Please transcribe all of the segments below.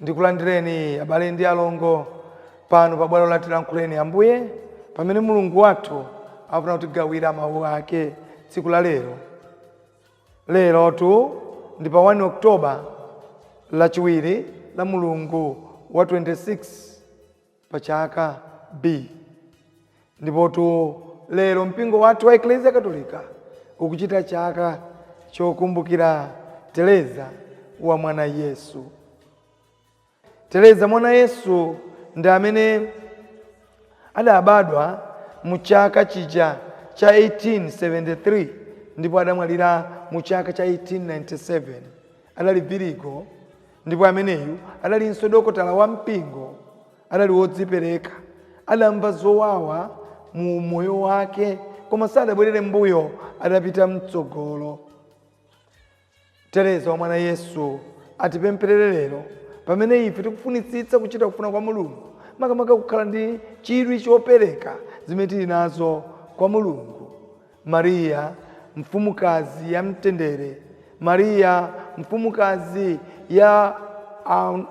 Ndikulandireni, abale ndi alongo, pano pa bwalo la Tilankhuleni Ambuye, pamene Mulungu wathu afuna kutigawira Mawu Ake tsiku la lero. Lerotu ndi pa 1 October, Lachiwiri la mulungu wa 26. pa chaka B. Ndipotu lero mpingo wathu wa Eklezia Katolika ukuchita chaka chokumbukira Tereza wa mwana Yesu. Tereza mwana Yesu ndi amene adabadwa mu chaka chija cha 1873 ndipo adamwalira mu chaka cha 1897 adali virigo Ndipo ameneyu adalinso dokotala wa mpingo, adali wodzipereka, adamva zowawa mu umoyo wake, koma sadabwerere mbuyo, adapita mtsogolo. Tereza wa mwana Yesu atipempherere lero pamene ife tikufunitsitsa kuchita kufuna kwa Mulungu, makamaka kukhala ndi chidwi chopereka zimene tili nazo kwa Mulungu Mariya, Mfumukazi ya Mtendere, Mariya, Mfumukazi ya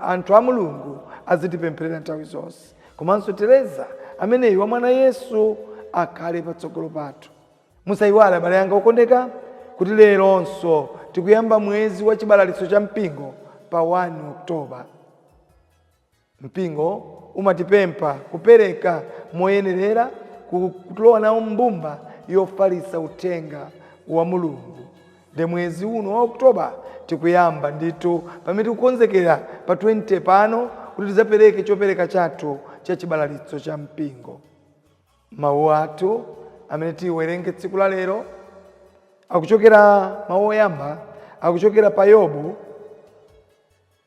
anthu a Mulungu azitipempherera nthawi zonse. Komanso Tereza ameneyu wa mwana Yesu akhale patsogolo pathu. Musaiwale abale anga okondeka kuti leronso tikuyamba mwezi wa chibalalitso cha mpingo pa 1 October. Mpingo umatipempha kupereka moyenerera ku kulowa nawo m'mbumba yofalitsa uthenga wa Mulungu. Nde mwezi uno wa October tikuyamba ndithu pamene tikukonzekera pa 20 pano kuti tidzapereke chopereka chathu cha chibalalitso cha mpingo. Mawu athu amene tiwerenge tsiku la lero akuchokera, mawu oyamba akuchokera pa Yobu.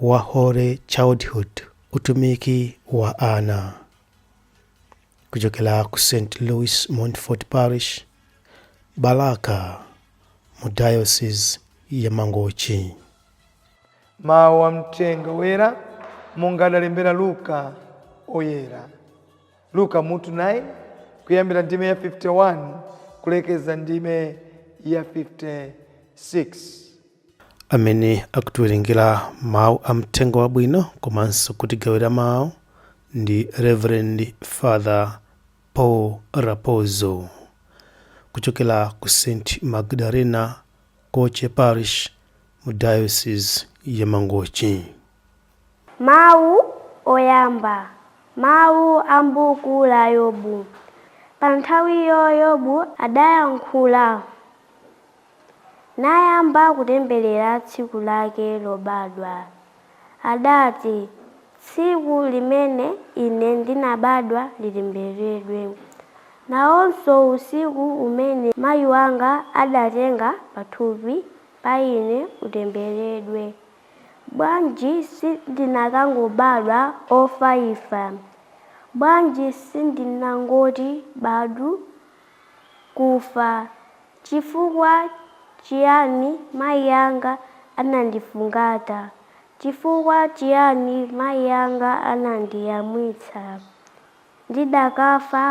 wa Holy Childhood, utumiki wa ana, kuchokera ku St. Louis Montfort Parish, Balaka, mu Diocese ya Mangochi. mawu a mthenga woyera monga adalembera luka woyera luka mutu 9 kuyambira ndime ya 51 kulekeza ndime ya 56 amene akutiwerengera mawu a mthenga wabwino komanso kutigawira mawu ndi reverend father paul rapozo kuchokera ku st magdalena koche parish mu diocese ya mangochi Mawu Oyamba, Mawu a m'buku la Yobu. Pa nthawiyo Yobu adayankhula, nayamba kutemberera tsiku lake lobadwa. Adati, Tsiku limene ine ndinabadwa litembereredwe, nawonso usiku umene mayi wanga adatenga pathupi pa ine utembereredwe. Bwanji sindinakangobadwa ofaifa? Bwanji sindinangoti badu, kufa? Chifukwa chiyani mayi anga anandifungata? Chifukwa chiyani mayi anga anandiyamwitsa? Ndidakafa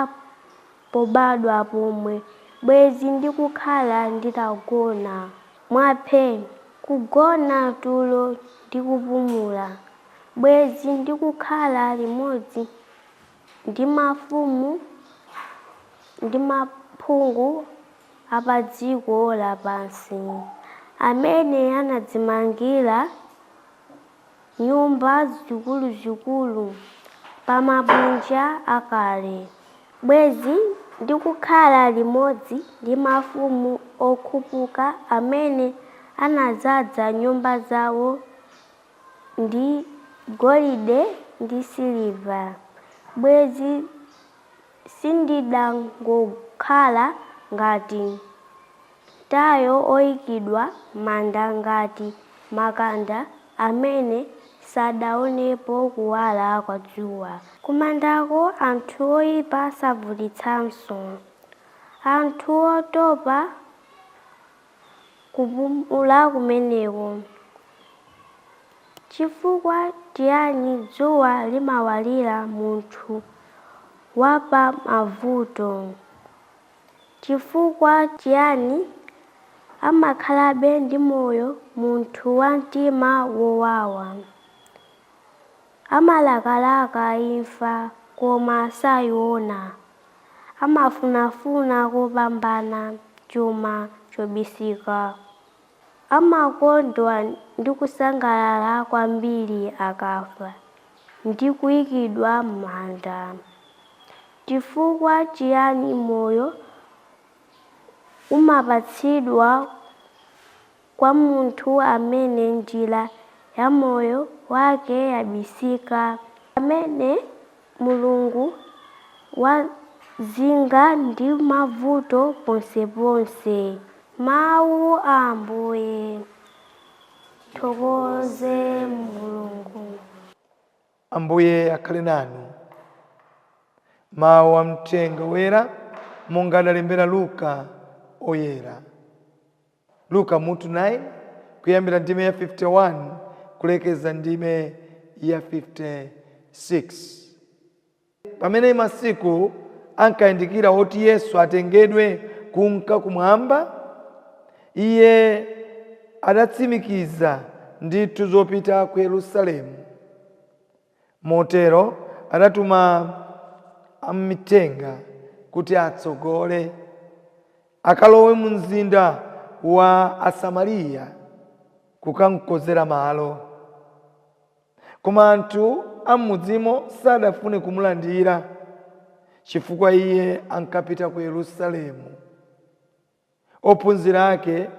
pobadwa pomwe bwezi ndikukhala nditagona mwa phe! Kugona tulo ndi kupumula, bwezi ndikukhala limodzi ndi mafumu ndi maphungu a padziko lapansi amene anadzimangira nyumba zikuluzikulu pa mabwinja akale, bwezi ndikukhala limodzi ndi mafumu okhupuka amene anadzaza nyumba zawo ndi golide ndi siliva, bwezi Sindidangokhala ngati mtayo oikidwa m'manda ngati makanda amene sadaonepo kuwala kwa dzuwa. Kumandako anthu oipa savutitsanso, anthu otopa. kupumula kumeneko. Chifukwa chiyani dzuwa limawalira munthu wa pa mavuto? Chifukwa chiyani amakhalabe ndi moyo munthu wa mtima wowawa? Amalakalaka imfa koma saiona. Amafunafuna kopambana chuma chobisika. Amakondwa ndi kusangalala kwambiri akafa ndi kuikidwa m'manda. Chifukwa chiyani moyo umapatsidwa kwa munthu amene njira ya moyo wake yabisika, amene Mulungu wazinga ndi mavuto ponseponse. Mawu a Ambuye. Tithokoze Mulungu. Ambuye akhale nanu. Mawu a Mthenga Woyera monga adalembera Luka Woyera. Luka mutu 9, kuyambira ndime ya 51 kulekeza ndime ya 56. Pamene masiku ankayandikira woti Yesu atengedwe kunka kumwamba, iye adatsimikiza ndithu zopita ku Yerusalemu. Motero adatuma amithenga kuti atsogole, akalowe mu mzinda wa Asamariya kukamkonzera malo. Koma anthu a m'mudzimo sadafune kumulandira, chifukwa iye ankapita ku Yerusalemu. Ophunzira ake,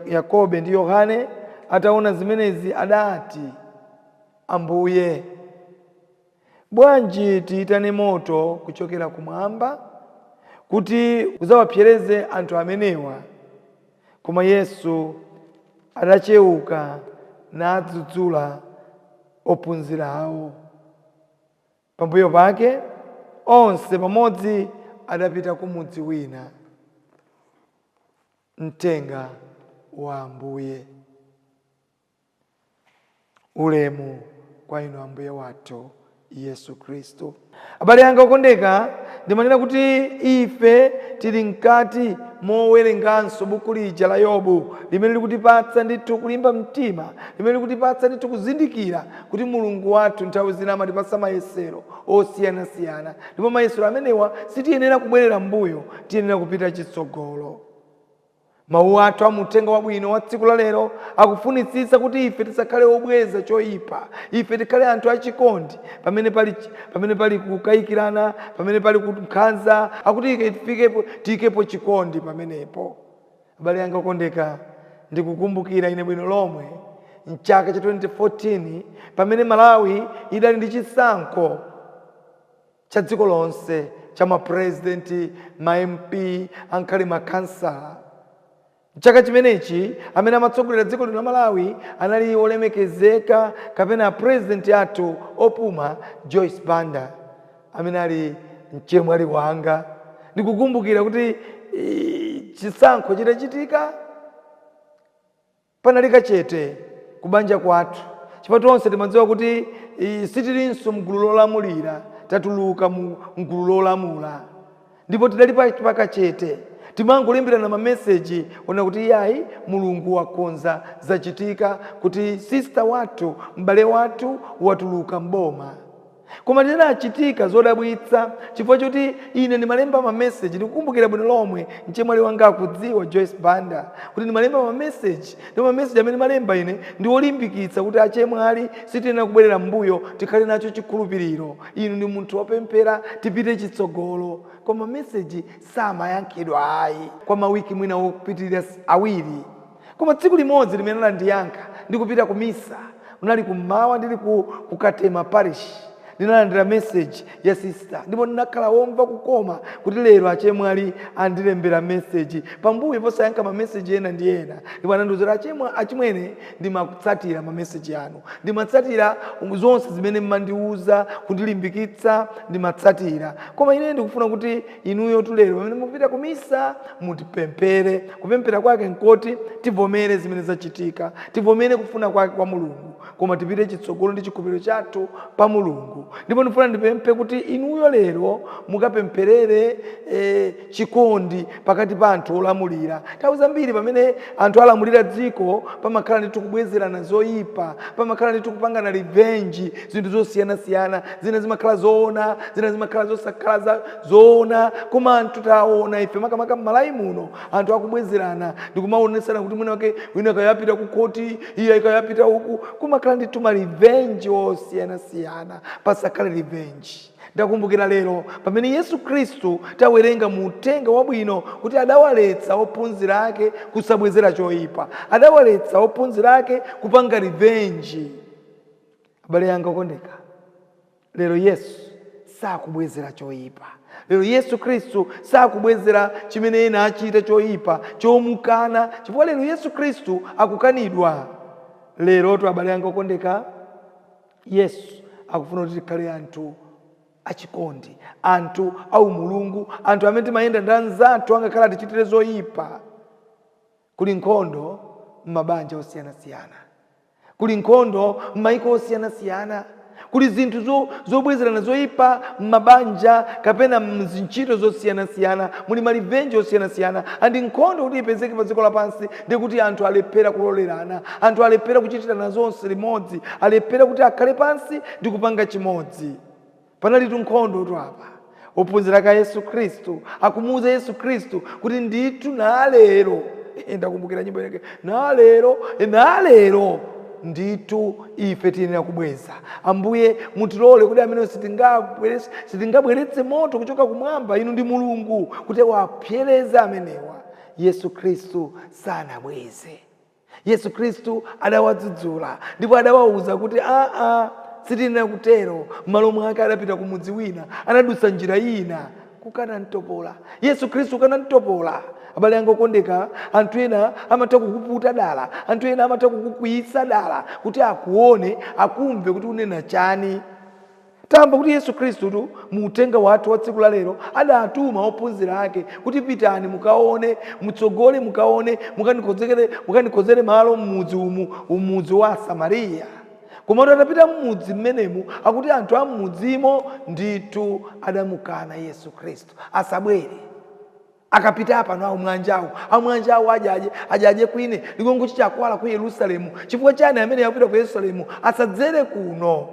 Yakobe ndi Yohane, ataona zimenezi adati, Ambuye, bwanji tiitane moto kuchokera kumwamba kuti udzawapsereze anthu amenewa? Koma Yesu adacheuka nadzudzula ophunzirawo. Pambuyo pake onse pamodzi adapita ku mudzi wina. Mthenga wa Ambuye. Ulemu kwa Inu Ambuye wathu Yesu Khristu. Abale anga okondeka, ndimanena kuti ife tili mkati mowerenganso buku lija la Yobu limene lilikutipatsa ndithu kulimba mtima, limene lilikutipatsa ndithu kuzindikira kuti Mulungu wathu nthawi zina amatipatsa mayesero osiyanasiyana, ndipo mayesero amenewa sitiyenera kubwerera m'mbuyo, tiyenera kupita chitsogolo. Mawu athu a mu Uthenga Wabwino wa tsiku la lero akufunitsitsa kuti ife tisakhale obweza choyipa, ife tikhale anthu achikondi pamene pali, pamene pali kukayikirana, pamene pali kunkhanza, akuti ike tifikepo, tiyikepo chikondi pamenepo. Abale anga okondeka, ndikukumbukira ine bwino lomwe m'chaka cha 2014 pamene Malawi idali ndi chisankho cha dziko lonse cha ma president, ma MP angakhale ma khansala. M'chaka chimenechi amene amatsogolera dziko lino la Malawi anali olemekezeka kapena a president athu opuma Joyce Banda. amene ali mchemwali wanga. Ndikukumbukira kuti chisankho chitachitika, panali kachete kubanja kwathu chifukwa tonse timadziwa kuti sitilinso m'gulu lolamulira, tatuluka m'gulu lolamula. Ndipo tidali pakachete, timangolemberana mameseji onena kuti, Iyayi, Mulungu wakonza, zachitika kuti sister wathu, m'bale wathu, watuluka m'boma. Koma zinachitika zodabwitsa, chifukwa choti ine ndimalemba mameseji, ndikukumbukira bwino lomwe, mchemwali wanga akudziwa, Joyce Banda, kuti ndimalemba mameseji, ndipo mameseji amene ndimalemba ine ndi olimbikitsa kuti achemwali sitiyenera kubwerera m'mbuyo, tikhale nacho chikhulupiriro, inu ndi munthu wopemphera, tipite chitsogolo. Koma mameseji samayankhidwa ayi kwa mawiki mwina opitirira awiri. Koma tsiku limodzi limene anandiyankha ndikupita ku Misa, unali kum'mawa ndili ku ku Katema Parish, ndinalandira message ya sister ndipo ndinakhala womva kukoma kuti lero achemwali andilembera message pambuyo posayankha ma message ena ndi ena ndipo anandiuza kuti achemwa achimwene ndimatsatira ma message anu, ndimatsatira zonse zimene m'mandiuza kundilimbikitsa ndimatsatira koma ineyo ndikufuna kuti inuyotu lero pamene mukupita ku Misa mutipemphere. Kupemphera kwake nkoti tivomere zimene zachitika, tivomere kufuna kwake kwa Mulungu, koma tipite chitsogolo ndi chikhulupiriro chathu pa Mulungu. Ndipo ndifuna ndipemphe kuti inuyo lero mukapempherere e, chikondi pakati pa anthu olamulira. Nthawi zambiri pamene anthu alamulira dziko pamakhala ndithu kubwezerana zoyipa, pamakhala ndithu kupangana revenge zinthu zosiyanasiyana, zina zimakhala zoona, zina zimakhala zosakhala zoona koma anthu taona ife makamaka mmalawi muno anthu akubwezerana ndikumaonetsana kuti mwina wake wina akayapita ku khoti iye akayapita uku kumakhala ndithu ma revenge osiyanasiyana pasakhale revenge ndakumbukira lero pamene yesu khristu tawerenga mu uthenga wabwino kuti adawaletsa ophunzira ake kusabwezera choyipa adawaletsa ophunzira ake kupanga revenge abale yanga okondeka Lero Yesu sakubwezera choipa. Lero Yesu Khristu sakubwezera chimene ena achita choipa chomukana, chifukwa lero Yesu Khristu akukanidwa. Lerotu abale anga okondeka, Yesu akufuna kuti tikhale anthu achikondi, anthu aumulungu, anthu amene timayenda ndi anzathu angakhale atichitire zoipa. Kuli nkhondo m'mabanja osiyanasiyana. Kuli nkhondo m'maiko osiyanasiyana. Kuli zinthu zo, zobwezerana zoipa m'mabanja kapena m'zintchito zosiyanasiyana. Muli malivenji osiyanasiyana. And nkhondo kuti ipezeke pa dziko lapansi ndi kuti anthu alephera kulolerana. Anthu alephera kuchitirana zonse limodzi. Alephera kuti akhale pansi ndi kupanga chimodzi. Panalitu nkhondotu apa. Ophunzira ake a Yesu Khristu akumuuza Yesu Khristu kuti ndithu nalero, eh, ndakumbukira nyimbo inake, nalero, eh, nalero ndithu ife tiyenera kubweza. Ambuye mutilole kuti amenewa sitinga sitingabweretse moto kuchoka kumwamba inu ndi Mulungu kuti awapsereze amenewa. Yesu Khristu sanabweze. Yesu Kristu adawadzudzula ndipo adawauza kuti, Aa, sitiyenera kutero. M'malo mwake adapita ku mudzi wina. Anadutsa njira ina kukana mtopola. Yesu Kristu kukana mtopola. Abale anga okondeka, anthu ena amatha kukuputa dala, anthu ena amatha kukukwiyitsa dala kuti akuone, akumve kuti unena chani. Tamva kuti Yesu Khristutu mu uthenga wathu wa tsiku la lero adatuma ophunzira ake kuti pitani mukaone, mutsogole mukaone, mukanikonzekere, mukanikonzere malo m'mudzi umu, mudzi wa Asamariya. Komatu atapita m'mudzi mmenemu akuti anthu a m'mudzimo ndithu adamukana Yesu Khristu, asabwere. Akapita apano amwanjawo amwanjawo ajaje ajaje kwine ligongo chi akwala ku Yerusalemu chifukwa chani amene akupita ku Yerusalemu asadzere kuno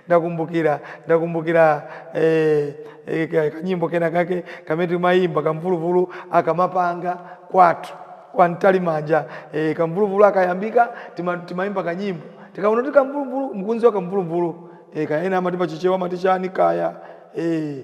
ndakumbukira ndakumbukira eh, eh, kanyimbo kena kake kamene timayimba kamvuluvulu akamapanga kwathu kwa mtalimanja eh, kamvuluvulu akayambika tima, timayimba kanyimbo tikaona kuti kamvuluvulu mkunzi wa kamvuluvulu eh, kayena amati pachichewa amati chani kaya eh,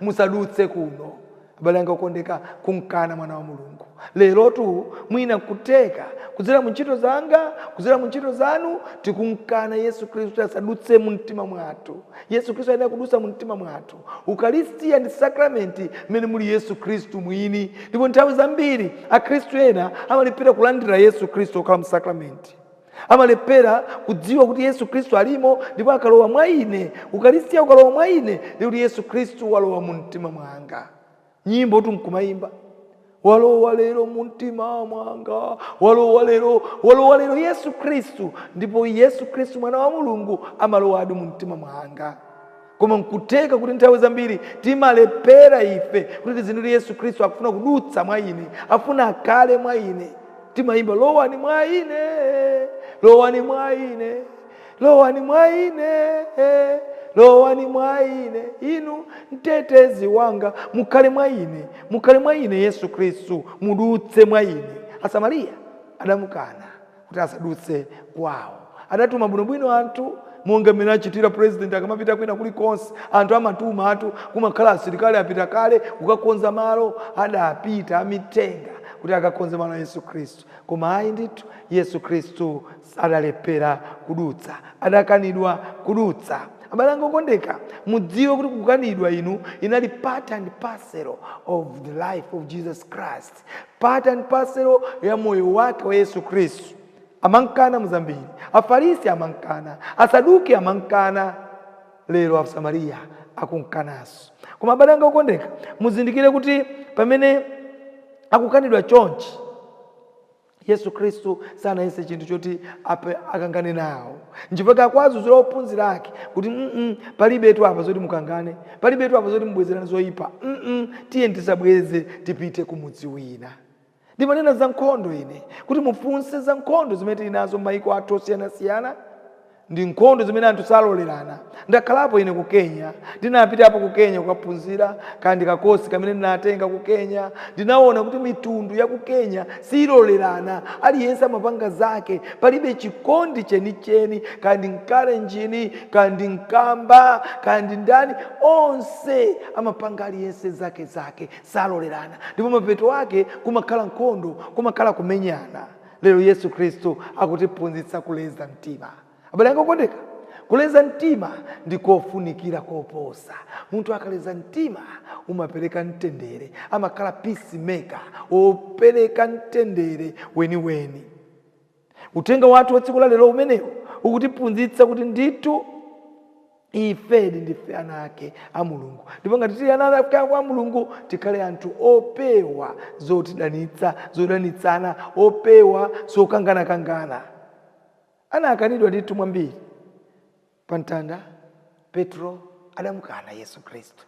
musadutse kuno abale anga okondeka kumkana mwana wa mulungu lerotu mwina nkutheka kudzera mu ntchito zanga kudzera mu ntchito zanu tikumkana yesu khristu kuti asadutse mu mtima mwathu yesu khristu ayenera kudutsa mu mtima mwathu ukaristiya ndi sakramenti mmene muli yesu khristu mwini ndipo nthawi zambiri akhristu ena amalephera kulandira yesu khristu okhala mu sakramenti amalephera kudziwa kuti yesu khristu alimo ndipo akalowa mwa ine ukalistiya ukalowa mwa ine ndi kuti yesu khristu walowa mu mtima mwanga nyimbo tu nkumayimba walowa lero mu mtima mwanga walowa lero walowa lero yesu khristu ndipo yesu khristu mwana wa mulungu amalowadi mu mtima mwanga koma nkutheka kuti nthawi zambiri timalephera ife kuti tizindikire yesu khristu akufuna kudutsa mwa ine afuna akhale mwa ine timayimba lowani mwa ine lowani mwa ine lowani mwa ine lowani mwa ine inu mtetezi wanga mukhale mwa ine mukhale mwa ine yesu khristu mudutse mwa ine asamariya adamukana kuti asadutse kwawo. Adatuma bwinobwino anthu monga mmene achitira president akamapita kwina kulikonse. Anthu amatumatu, kumakhala asilikali apita kale kukakonza malo. Adapita amithenga kuti akakonze malo a Yesu Khristu. Koma ayi ndithu, Yesu Khristu adalephera kudutsa. Adakanidwa kudutsa. Abale anga okondeka, mudziwe kuti kukanidwa inu inali part and parcel of the life of Jesus Christ. Part and parcel ya moyo wake wa Yesu Khristu. Amankana muzambiri. Afarisi amankana. Asaduki amankana. Lero Asamariya akunkanaso. Koma abale anga okondeka, muzindikire kuti pamene akukanidwa chonchi, Yesu Kristu sanayese chinthu choti akangane nawo nchifukwa akuwadzudzula ophunzira ake kuti palibetu apa zoti mukangane palibetu apa zoti mubwezerane zoyipa tiyeni tisabweze tipite ku mudzi wina ndimanena za nkhondo ine kuti mufunse za nkhondo zimene tili nazo m'mayiko athu osiyanasiyana ndi nkhondo zimene anthu salolerana. Ndakhalapo ine ku Kenya, ndinapitapo ku Kenya kukaphunzira, kaya ndi kakosi kamene ndinatenga ku Kenya. Ndinaona kuti mitundu ya ku Kenya silolerana, aliyense amapanga zake, palibe chikondi chenicheni, kaya ndi Mkalenjini, kaya ndi Mkamba, kaya ndi ndani, onse amapanga aliyense zake zake, salolerana, ndipo mapeto ake kumakhala nkhondo, kumakhala kumenyana. Lero Yesu Khristu akutiphunzitsa kuleza mtima. Abale anga okondeka, kuleza mtima ndi kofunikira koposa. Munthu akaleza mtima umapereka mtendere, amakhala peace maker, wopereka mtendere weniweni. Uthenga wathu wa tsiku la lero umenewu ukutiphunzitsa kuti ndithu. Ifedi ndife ana ake a Mulungu, ndipo ngati tili ana ake a Mulungu, tikhale anthu opewa zotidanitsa, zodanitsana, opewa zokanganakangana. Anakanidwa ndithu mwambiri. Pa mtanda, Petro adamukana Yesu Khristu.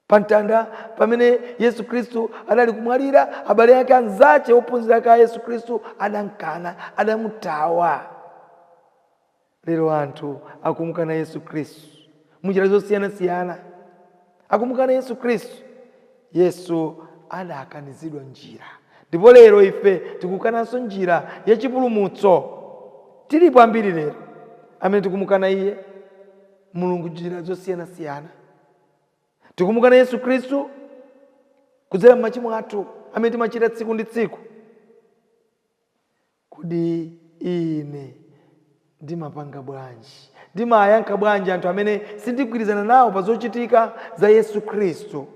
pa mtanda pamene yesu khristu adali kumwalira abale ake anzache ophunzira ake a yesu khristu adamkana adamuthawa lero anthu akumukana yesu khristu munjira zosiyanasiyana akumukana yesu khristu yesu adakanizidwa njira ndipo lero ife tikukananso njira yachipulumutso tilipo ambiri lero amene tikumukana iye Mulungu njira zosiyanasiyana. Tikumukana Yesu Khristu kudzera m'machimo athu amene timachita tsiku ndi tsiku. Kodi ine ndimapanga bwanji, ndimayankha bwanji anthu amene sindigwirizana nawo pa zochitika za Yesu Khristu?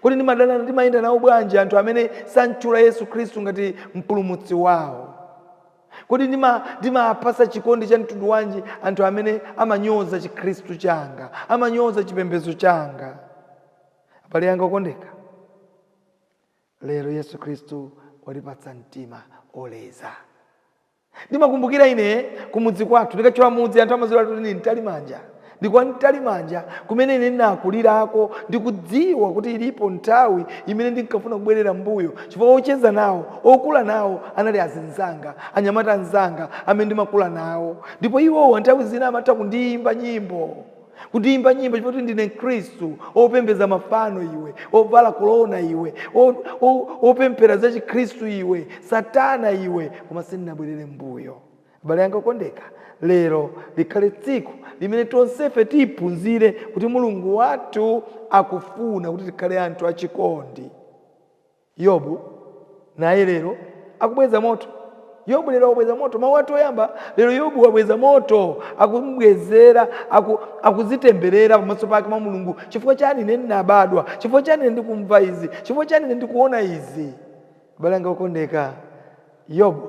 Kodi ndimadana, ndimayenda nawo bwanji anthu amene samtchula Yesu Khristu ngati mpulumutsi wawo? Kodi ndimapatsa chikondi cha mtundu wanji anthu amene amanyoza Chikhristu changa, amanyoza chipembedzo changa? Abale anga okondeka, lero Yesu Khristu watipatsa mtima oleza. Ndimakumbukira ine kumudzi kwathu, ndikatchula mudzi anthu amadziwiratu kuti ndi Mtalimanja. Ndi kwa Mtalimanja kumene ine ndinakulirako, ndikudziwa kuti ilipo nthawi imene ndinkafuna kubwerera mmbuyo, chifukwa ocheza nawo, okula nawo anali azinzanga, anyamata anzanga amene ndimakula nawo. Ndipo iwowa nthawi zina amatha kundiyimba nyimbo, kundiyimba nyimbo chifukwa kuti ndine Mkristu, Opembedza mafano iwe, ovala korona iwe, o, o, opemphera za Chikhristu iwe, Satana iwe, koma sindinabwerere mmbuyo. Abale anga okondeka, lero likhale tsiku limene tonsefe tiphunzire kuti Mulungu wathu akufuna kuti tikhale anthu achikondi. Yobu naye lero akubweza moto. Yobu lero akubweza moto. Mawu athu oyamba, lero Yobu wabweza moto. Akumubwezera, aku, akudzitemberera pamaso pake mwa Mulungu. Chifukwa chani ine ndinabadwa? Chifukwa chani ine ndikumva izi? Chifukwa chani ine ndikuona izi? Abale anga okondeka, Yobu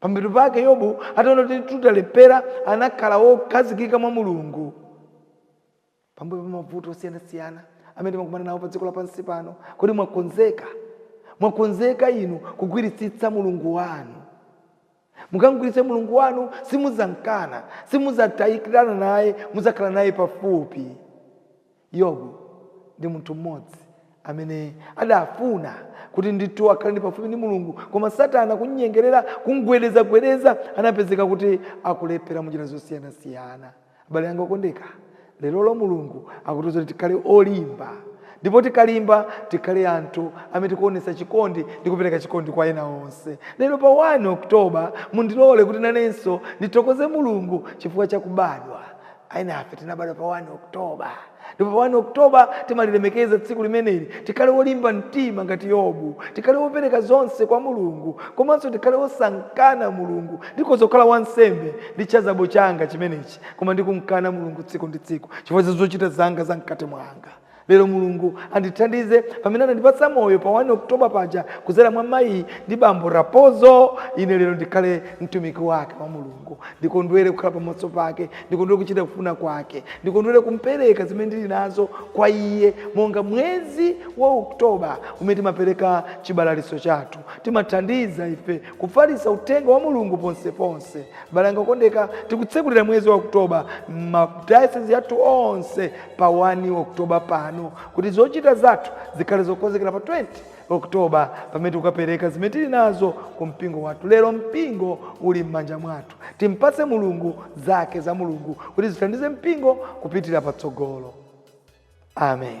Pambuyo pake, Yobu ataona kuti ndithu talephera, anakhala wokhazikika mwa Mulungu. Pambuyo pa mavuto osiyanasiyana amene timakumana nawo padziko lapansi pano, kodi mwakonzeka? Mwakonzeka inu kugwiritsitsa Mulungu wanu? Mukam'gwiritsitsa Mulungu wanu, simudzam'kana, simudzatayikirana naye, mudzakhala naye pafupi. Yobu ndi munthu mmodzi amene adafuna kuti ndithu akhale ndi pafupi ndi Mulungu, koma Satana kumnyengerera, kumgwedezagwedeza, anapezeka kuti akulephera munjira zosiyanasiyana. Abale anga okondeka, leroli Mulungu akutiuza kuti tikhale olimba, ndipo tikalimba tikhale anthu amene tikuonetsa chikondi ndi kupereka chikondi kwa ena onse. Lero pa 1 October, mundilole kuti nanenso ndithokoze Mulungu chifukwa cha kubadwa. Enafe tinabadwa pa 1 October ndipo pa 1 October timalilemekeza tsiku limeneli. Tikhale olimba mtima ngati Yobu, tikhale opereka zonse kwa Mulungu komanso tikhale osamkana Mulungu. Ndikhoza kukhala wansembe ndi chazabo changa chimenechi koma ndikumkana Mulungu tsiku ndi tsiku chifukwa cha zochita zanga za mkati mwanga. Lero Mulungu andithandize pamene anandipatsa moyo pa 1 October paja kudzera mwa mayi ndi bambo Rappozo, ine lero ndikhale mtumiki wake wa Mulungu, ndikondwere kukhala pamaso pake, ndikondwere kuchita kufuna kwake, ndikondwere kumpereka zimene ndili nazo kwa iye monga mwezi wa October umene timapereka chibalalitso chathu, timathandiza ife kufalitsa uthenga wa Mulungu ponseponse. Abale anga okondeka, tikutsekulira mwezi wa October ma diocese athu onse pa 1 October pano kuti zochita zathu zikhale zokonzekera pa 20 October pamene tikukapereka zimene tili nazo ku mpingo wathu. Lero mpingo uli m'manja mwathu. Timpatse Mulungu zake za Mulungu kuti zithandize mpingo kupitira patsogolo. Amen.